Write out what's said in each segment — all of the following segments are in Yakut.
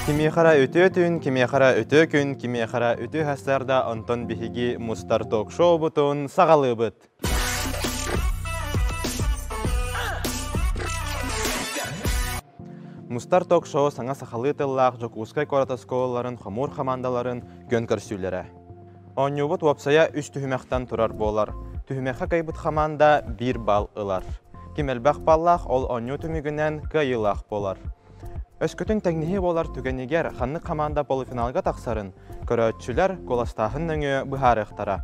Кимиэхэрэ үтүө түүн, кимиэхэрэ үтүө күн, кимиэхэрэ үтүө сарсыарда, онтон биһиги мустар ток-шоубутун саҕалыыбыт. Мустар ток-шоу саҥа сахалыы тыллаах Дьокуускай куорат оскуолаларын хомуур хамаандаларын көн көрсүүлэрэ. Оонньуубут уопсайа үс түһүмэхтэн турар буолар. Түһүмэххэ кыайбыт хамаанда биир балл ылар. Ким элбэх баллаах, ол оонньуу түмүгүнэн кыайыылаах буолар. Өскөтүн тэҥнэһии буолар түгэнигэр ханнык хамаанда полуфиналга тахсарын көрөөччүлэр куоластааһын нөҥүө быһаарыахтара.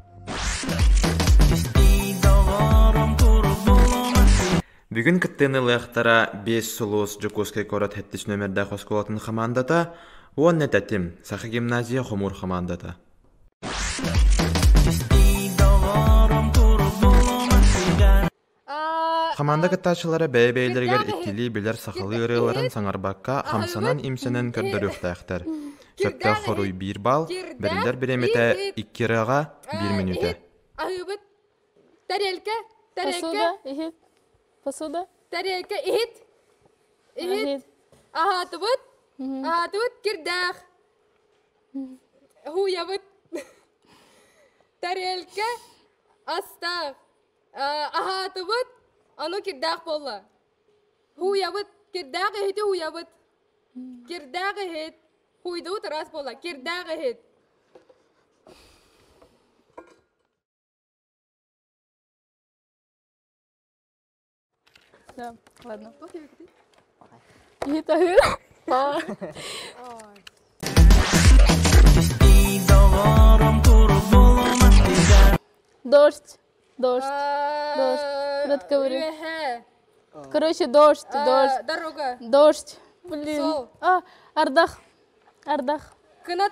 Бүгүн кыттыанылыахтара Биэс сулус Дьокуускай куорат сэттис нүөмэрдээх оскуолатын хамаандата уонна тэтим Саха гимназия хомуур хамаандата Хамаанда кыттааччылара бэйэ-бэйэлэригэр иккилии билэр сахалыы ырыаларын саҥарбакка хамсанан-имсэнэн көрдөрүөхтээхтэр. Сөптөөх хоруй биир балл, бэриллэр бириэмэтэ икки ырыаҕа биир мүнүүтэ. Тарелка, тарелка. Посуда, иһит. Посуда. Тарелка, иһит. Иһит. Аһаатыбыт. Аһаатыбыт кирдээх. Хуйабыт. Тарелка астаах. Аһаатыбыт. Аны кирдээх болла. Хуйабыт. Кирдээх иһити хуйабыт. Кирдээх иһит. Хуйдубут раз болла. Кирдээх иһит. Да, ладно, пофиг ты. И это Дождь, дождь, дождь. Брат говорит. Короче, дождь, дождь. Дорога. Дождь. Блин. А, Ардах. Ардах. Кынат.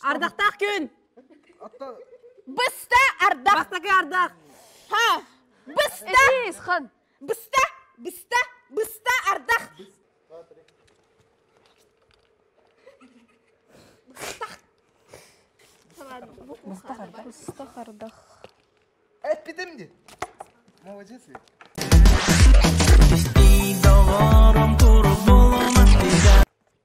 Ардахтаах күн! Быста ардах! Бастакы ардах! Ха! Быста! Хан! Быста! Быста! Быста ардах! Быста хардах. Эппитим ди. Молодец ли?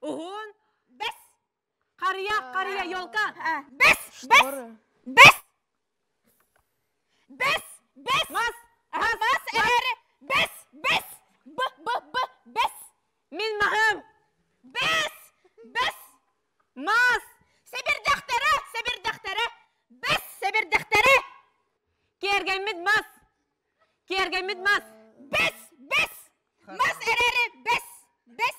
Уһун. Бэс. Харыйа, харыйа, елка. Бэс, бэс, бэс. Бэс, бэс. Мас, мас эһэр. Бэс, бэс. Б, б, б, бэс. Мин маһым. Бэс, бэс. Мас. Сибирдэхтэрэ, сибирдэхтэрэ. Бэс, сибирдэхтэрэ. Киэргэммит мас. Киэргэммит мас. Бэс, бэс. Мас эрэри, бэс, бэс.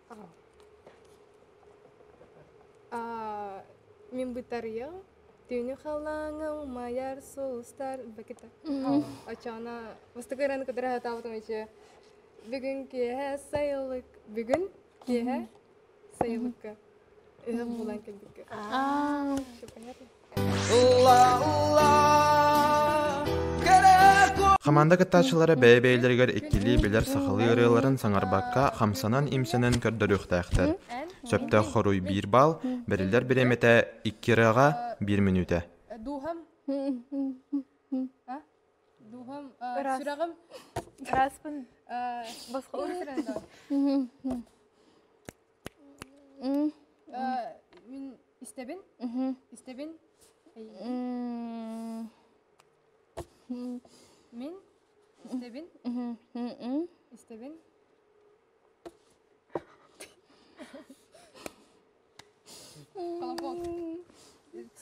Мин бытарыйам түүнү халааҥа умайар сулустар бакыта очооно бастакы ыраны кытары хатаабытым үчү бүгүн киэһэ сайылык бүгүн киэһэ сайылыкка ыһым булан кэлбиккэ Хамаанда кыттааччылара бэйэ-бэйэлэригэр иккилии билэр-сахалыы ырыаларын саҥарбакка, хамсанан-имсэнэн көрдөрүөхтээхтэр. Сөптөөх хоруй биир балл, бэриллэр бириэмэтэ икки ырыаҕа биир мүнүүтэ. Духом духом сүрэҕим ыраспын босхолуур Мин истэбин. Истэбин. Мин истэбин. Истэбин. Холобон.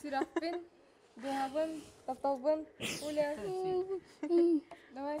Серафин, дыһабын, тапталбын, Уля. Давай.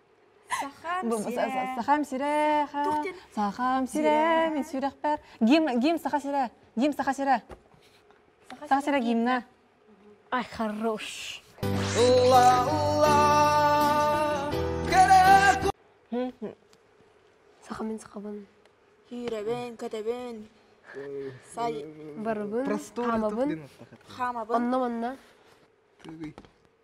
Сахам сирэ, сахам сирэ, мен сүрәхпәр. Гим, гим саха сирэ, гим саха сирэ. Саха сирэ гимна. Ай, хорош. Улла, улла, Саха мен сахабын. Киребен, кэтебен. Сай. Барыбын. Хамабын. Хамабын. Онно манна.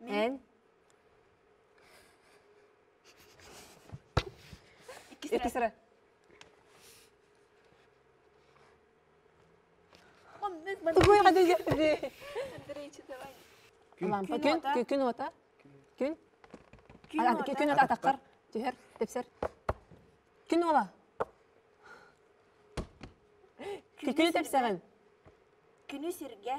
Эн иккис эрэ. Тугуйга дии. Лампа күн, күн уота. Күн. Ки күн уота атаккар. Түһэр, тепсер. Күн уола. Күнү тепсерин. Күнү сиргэ.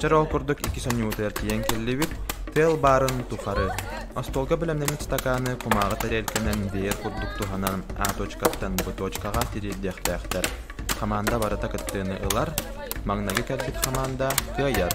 Чорол курдук икки сонньуутугар тиийэн кэллибит, тыал баарын тухары. Остуолга бэлэмнэммит стаканы кумааҕы тарелканан биер курдук туһанан А точкаттан Б точкаҕа тириэрдиэхтээхтэр. Хамаанда барыта кыттыыны ылар, маҥнайгы кэлбит хамаанда кыайар.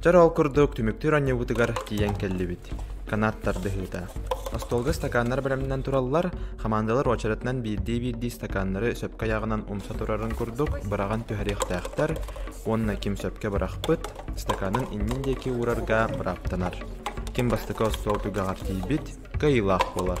Чор ол курдук түмүктүүр анньыбытыгар тиийэн кэллибит. Канаат тардыһыыта. Остуолга стаканнар бэлэмнэнэн тураллар, хамаандалар уочаратынан биирдии-биирдии стаканнары сөпкө аяҕынан умса турарын курдук быраҕан түһэриэхтээхтэр уонна ким сөпкө бырахпыт, стаканын иннин диэки уурарга бырааптанар. Ким бастакы остуол түгэҕэр тиийбит, кыайыылаах буолар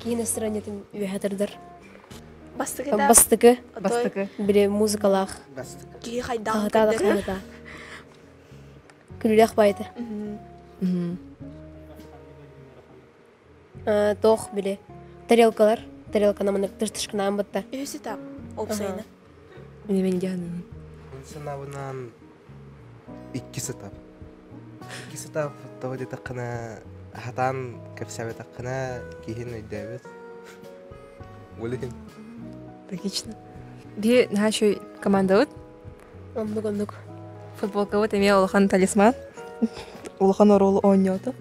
киин ыстранньатын үөһэ тардар бастыгы да бастыкы бастыкы били музыкалаах киһи хайдаан аһата аһата күлүлээх баайыта тоох били тарелкалар тарелканан маны тыштышканаан бытта үһүсү та опсайна мен дьаһанын икки сытар. Икки сытаабыттаҕа диэтэххинэ, сатаан кэпсээбэтэххинэ, киһин өйдөөбөт. Билигин. Логично. Бии нашей командабыт оннук оннук футболкабыт эмиэ улахан талисман улахан оруолу оонньоото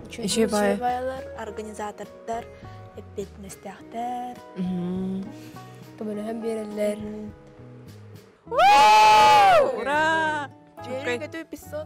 Дьебайлар, организатордар эппиэтинэстээхтэр. Көмөлөһөн биэрэллэр. Ура! Чүпкэй. 500.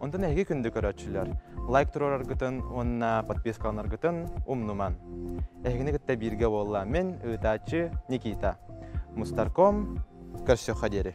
Онтон эһиги күндү көрөөччүлэр, лайк туруораргытын уонна подпискаланаргытын умнумаҥ. Эһигини кытта бииргэ буолла мин, ыытааччы Никита. Мустарком, көрсүөххэ диэри.